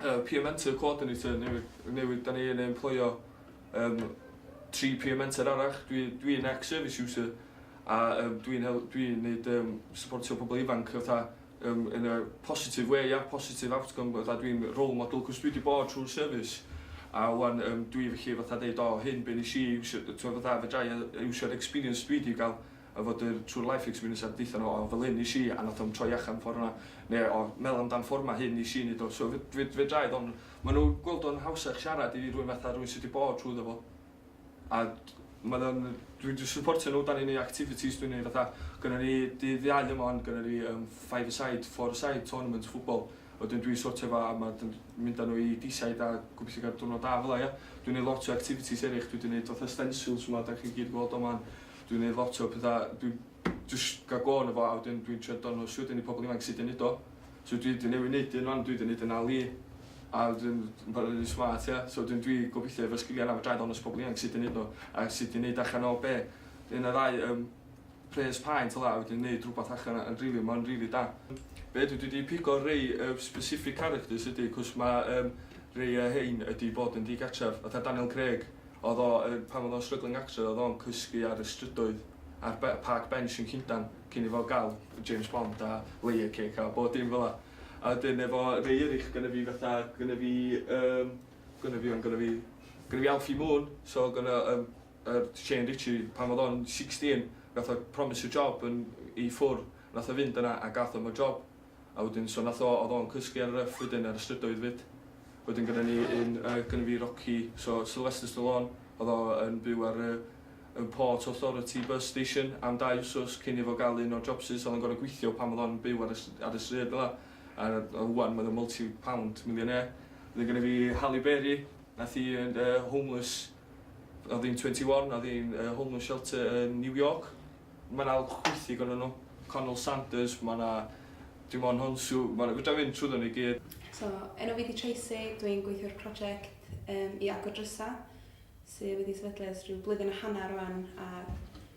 uh, peer mentor coordinator newydd, newydd da ni yn emploio um, tri peer mentor arach. Dwi'n dwi, dwi ex-service user a um, dwi'n dwi neud um, supportio pobl ifanc fatha Yym in a positive way ia? Positive outcome fatha dwi'n role model 'c'os dwi 'di bod trw'r service a ŵan yym dwi felly fatha deud o hyn be' nesh i iwsio d- t'mo' fatha fedrai yy yy iwsio'r experience dwi 'di ga'l efo yr trw'r life experience a deutha n'w o fel hyn nesh i a nath o'm troi achan ffor 'na ne' o me'wl amdan ffor 'ma hyn nesh i neud o so fe- fe- fedrai ddo' ma' n'w gweld o'n hawsach siarad i rywun fatha rywun sy 'di bod trwyddo fo. a ma' fe'n dwi 'di syportio n'w 'dan ni'n neu' activities dwi'n neu' fatha gynnon ni dydd Iau yma 'wan gynnon ni yym five a side four a side tournament football a wedyn dwi'n sortio fo a ma' dyn- mynd â n'w i deeside a gobithio ga'l diwrnod da fel 'a ia? Dwi'n neu' lot o activities erych dwi 'di neud fatha stencils 'ma 'dach chi gyd yn gweld o 'wan dwi'n neu' lot o petha dwi jyst ga'l go' ono fo a wedyn dwi'n trio dangos wedyn i pobol ifanc sud i neud o. so dwi di newydd neud un wan dwi di neud un Ali a dwi'n bod yn rili smart ie so wedyn dwi gobithio efo sgilia yna fedrai ddangos pobol ifanc sud i neud n'w a sud i neud allan o be? un neu ddau yym pres paent fela a wedyn neud rwbath allan a rili ma'n rili da. Be' dwi dwi di pigo rei yy specific characters ydi 'c'os ma' yym rei o rhein ydi bod yn digartref fatha Daniel Craig Oedd o, er, pan oedd o'n struggling actor, oedd o'n cysgu ar y strydoedd a'r be- park bench yn Llundan cyn i fo ga'l James Bond a layer cake a bob dim fela. A wedyn efo rei erych gynna fi fatha gynna fi yym gynna fi on' gynna fi gynna fi Alfie Moon so gynna yym yr Shane Richie pan odd o'n sixteen nath o promise y job yn i ffwr' nath o fynd yna a gath o'm y job. A wedyn so nath o o'dd o'n cysgu ar y Ruff wedyn ar y strydoedd 'fyd. Wedyn gyda ni un yy gynna fi Rocky so Sylvester Stallone o'dd o yn byw ar y y Port Authority bus station am dau wsos cyn i fo ga'l un o'r jobsus o'dd o'n gor'o' gwithio pan o'dd o'n byw ar y s- ar y stryd fel 'a a a ŵan ma' o'n multi pound millionaire. Wedyn gynna fi Halle Berry nath i yy yy homeless o'dd 'i'n twenty one o'dd 'i'n yy homeless shelter yn New York Mae 'na lwc chwythig ohonyn nhw. Connel Sanders, mae 'na Dimon Honsw, ma' 'na... fedra i fynd trwyddo nhw i gyd. So, enw fi 'di Tracy, dw i'n gweithio ar project yym i agor drysau sy' wedi sefydlu ers rhyw blwyddyn a hanner rwan a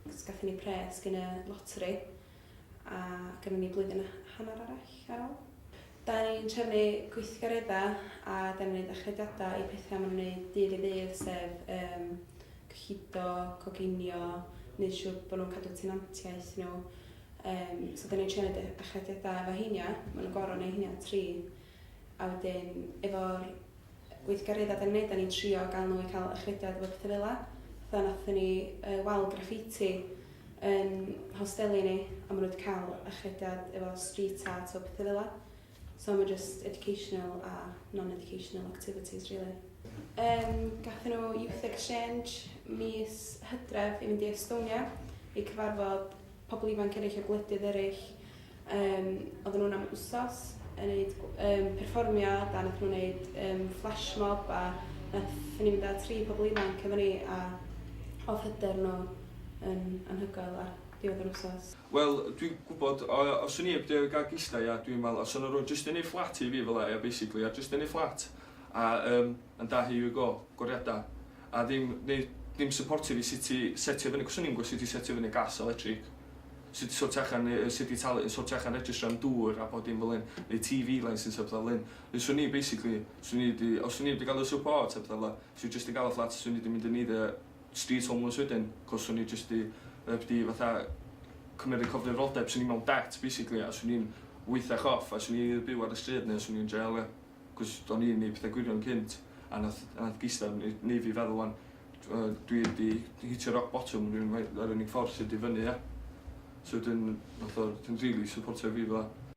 cos gathon ni pres gin y loteri a gynnon ni blwyddyn a hanner arall ar ol. Da ni'n trefnu gweithgareddau a da ni'n neud achrediadau i pethau ma' nhw'n neud dydd i ddydd sef yym cyllido, coginio, neud siwr bo nhw'n cadw tenantiaeth nhw. Yym so dan ni'n trio neud y achrediadau efo heina, ma' nhw'n gor'o' neud heina tri a wedyn efo'r weithgareddau dan ni'n neud dan ni'n trio ga'l nhw i ca'l achrediad efo petha fela. Fatha nathon ni yy wal graffiti yn hosteli ni a ma' nhw wedi ca'l achrediad efo street art a petha fela. So mae just educational a non-educational activities really. Um, gathen nhw Youth Exchange mis hydref i fynd i Estonia i cyfarfod pobl ifanc eraill o gwledydd eraill. Um, oedden nhw'n am wsos yn gwneud um, perfformiad a nath nhw'n gwneud um, flash mob a nath ni fynd â tri pobl ifanc efo ni a oedd hyder nhw yn anhygoel a diwedd yr wsos. Wel dwi'n gwybod o ia os o'n i 'eb drio ga'l gistai a dwi'n me'wl os o'n nw jyst yn neud fflat i fi fela ia basically a jyst yn neud fflat a yym and da here you go goriada a ddim neud ddim syportio fi sut i setio fyny cos o'n i'm gwbo sut i setio fyny gas electric sut i sortio allan yy yy sut i talu yn sortio allan registro am dŵr a bod dim fel 'yn neu Tee Vee license a petha fel 'yn ne' swn i basically swn i 'di os o'n i 'eb di ga'l y support a petha fela sw i jyst yn ga'l y fflat swn i 'di mynd yn eiddo street homeless wedyn cos o'n i jyst 'di yy b- 'di fatha cymryd y cyfrifoldeb so o'n i mewn debt basically a so o'n i'n weithach off a so o'n i eitha byw ar y stryd ne' so o'n i yn jail ia? Cos o'n i'n neud pethe gwirion cynt a nath a nath gistan ne- neu' fi feddwl ŵan t'mo' yy dwi 'di hitio rock bottom rywun ma' yr unig ffordd sy 'di fyny ia? So wedyn nath o dim rili syportio fi fel 'a.